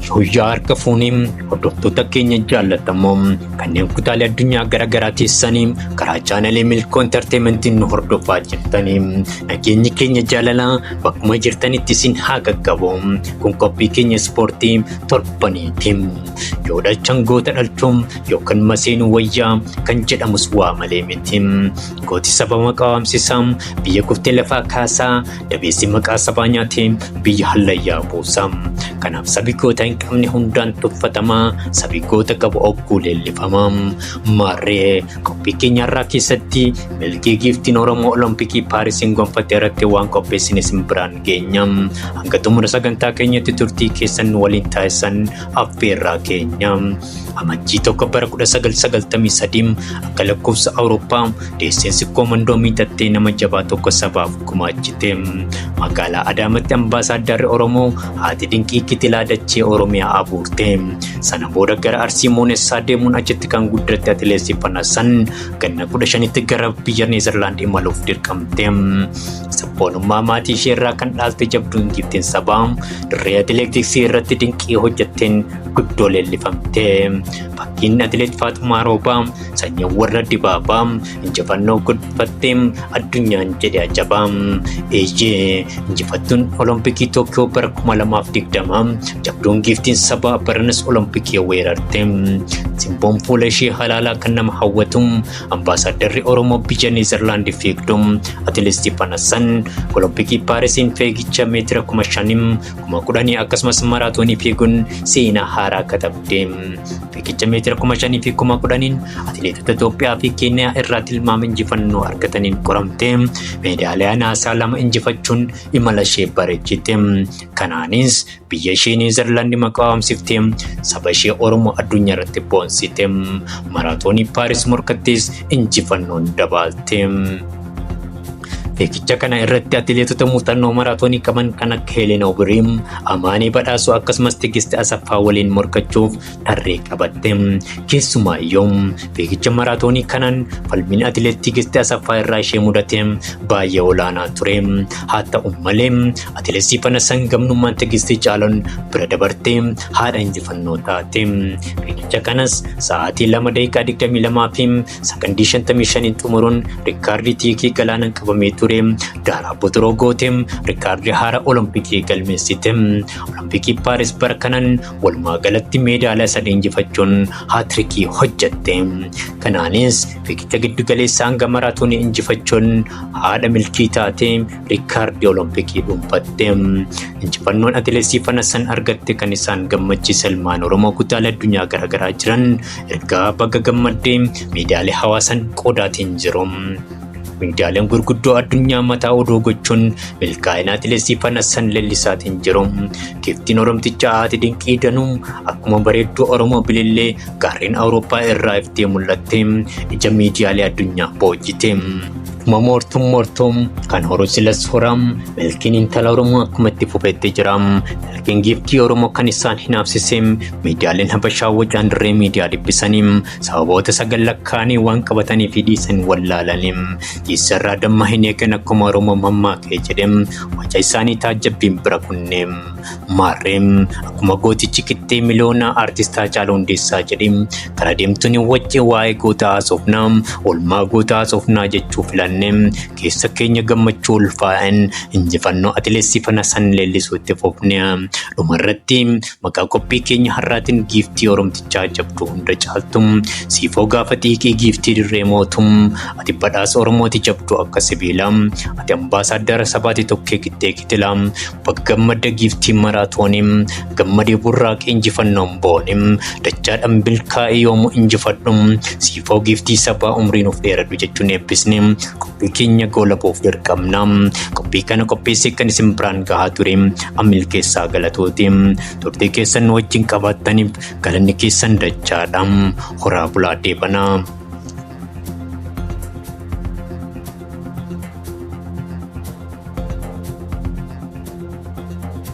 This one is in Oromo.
Yooyyaa harka fuunii hordoftoota keenya jaallatamoo kanneen kutaalee addunyaa garaagaraa teessanii karaa chaanalee milkoo intarteementiin nu hordofaa jirtanii nageenyi keenya jaalalaa bakkuma jirtanitti isin haa qaqqabu kun qophii keenya ispoortii torbaniiti yoo dhalchan goota dhalchuun yookaan maseenuu wayyaa kan jedhamus waa malee miti gooti sababa qabaamsisaa biyya kuftee lafaa kaasaa Dabeessi maqaa sabaa nyaatee biyya hallayyaa buusa. Kanaaf sabi goota hin qabne hundaan tuffatama. Sabi goota qabu ogguu leellifama. Maarree qophii keenya irraa keessatti milkii giiftiin Oromoo Olompikii Paarisiin gonfatte irratti waan qopheessin isin biraan geenya. Hanga xumura sagantaa keenyatti turtii keessan waliin taasisan affeerraa keenya. Amajjii tokko bara 1993 akka lakkoofsa Awurooppaa deesseen sikkoo mandoomii tattee nama jabaa tokko sabaaf gumaachite. Magaalaa Adaamatti ambaasaaddarri Oromoo haati dinqii kitilaa dachee Oromiyaa abuurte. Sana booda gara Arsii Moonessaa deemuun achitti kan guddatte Atileet Sifanaa San ganna 15tti gara biyya Neezerlaand imaluuf dirqamte. Sabboonummaa maatii ishee irraa kan dhaalte jabduun giiftiin sabaa dirree atileetiksii irratti dinqii hojjetteen guddoo leellifamte. Fakkiin Atileet Faaxumaa Roobaa sanyii warra dibaabaa injifannoo gudfattee addunyaan jedhe ajaba. Eeyyee injifattuun Olompikii Tookiyoo bara 2020 jabduun giiftiin sabaa baranas Olompikii weerarte. Simboon fuula ishee halaalaa kan nama hawwatu ambaasaaddarri Oromoo biyya Neezerlaandi fiigdu Atileet Sifanassan Olompikii Paarisiin fiigicha meetira 5000 kuma kudhanii akkasumas maraatoonii fiiguun seenaa haaraa katabde. Fiigicha meetira kuma shanii fi kuma kudhaniin atileetota Itoophiyaa fi Keeniyaa irraa tilmaama injifannoo argataniin qoramte. Meedaaliyaa naasaa lama injifachuun imala ishee bareechite. Kanaanis biyya ishee Niwuzilaandi maqaa waamsifte saba ishee Oromoo addunyaa irratti boonsite. Maraatoonii Paaris morkattis injifannoon dabaalte. Fiigicha kana irratti atileetota muuxannoo maraatoonii qaban kan akka Helen Obiriim, Amaanee Badhaasoo akkasumas Tigist Asaffaa waliin morkachuuf tarree qabatte. Keessumaa iyyuu fiigicha maraatoonii kanaan falmiin atileet Tigist Asaffaa irraa ishee mudate baay'ee olaanaa ture. Haa ta'u malee atileet Siifan Hasan gamnummaan Tigist caaluun bira dabartee haadha injifannoo taate. Fiigicha kanas sa'aatii 2 daqiiqaa 22 fi Sakandii 55 xumuruun rikkaardii tiikii galaanaan qabamee ture Daaraa Botoroo goote rikkaardii haara Olompikii galmeessite. Olompikii Paaris bara kanan walumaa galatti meedaaliyaa sadii injifachuun haatirikii hojjette. Kanaanis fiigicha giddugaleessaa hanga maraatoonii injifachuun haadha milkii taate rikkaardii Olompikii dhuunfatte. Injifannoon atileesii Fanassan argatte kan isaan gammachiise ilmaan Oromoo kutaalee addunyaa garaagaraa jiran Ergaa baga gammaddee miidiyaalee hawaasan qoodaatiin jiru. Miidiyaaleen gurguddoo addunyaa mataa odoo gochuun milkaa'ina atileetii Fanassan Lellisaatiin jiru. Giftiin Oromticha haati dinqii danuu akkuma bareedduu Oromoo bilillee gaarreen Awurooppaa irraa iftee mul'atte ija miidiyaalee addunyaa boojite. Akkuma moortuun moortuu kan horu silas hora milkiin intala Oromoo akkuma itti fufetti jira. Milkiin giiftii Oromoo kan isaan hinaafsise Miidiyaaleen Habashaa wacaan dirree miidiyaa dhibbisaniim sababoota sagal lakkaa'anii waan qabatanii fi dhiisan wallaalaniim jiisarraa damma hin eegan akkuma Oromoo mammaakee jedhem waca isaanii taajjabbiin bira kunneem maarreem akkuma gootichi qixxee miliyoonaa aartistaa Haacaaluu Hundeessaa jedheem kara deemtuun wacce waa'ee goota haasofnaa olmaa goota haasofnaa jechuu filanneem keessa keenya gammachuu ulfaa'en injifannoo atileessii fana san leellisuutti fufne dhumarratti Maqaa qophii keenya har'aatiin giiftii Oromtichaa jabduu hunda caaltum siifoo gaafa xiiqii giiftii dirree mootum ati badhaasa Oromooti jabduu akka sibiila ati ambaasaaddara sabaati tokkee qixxee kitila bakka gammadda giiftii maraatoonim gammadee burraaqee injifannoon boonim dachaadhaan bilkaa'ee yoomu injifadhum Foo giiftii sabaa umrii nuuf dheeradhu jechuun eebbisne qophii keenya goolabuuf dirqamna. Qophii kana qopheessee kan isin biraan gahaa ture ammil keessaa galatooti. Turtii keessan nu wajjin qabaattaniif galanni keessan dachaadha. Horaa bulaa deebanaa.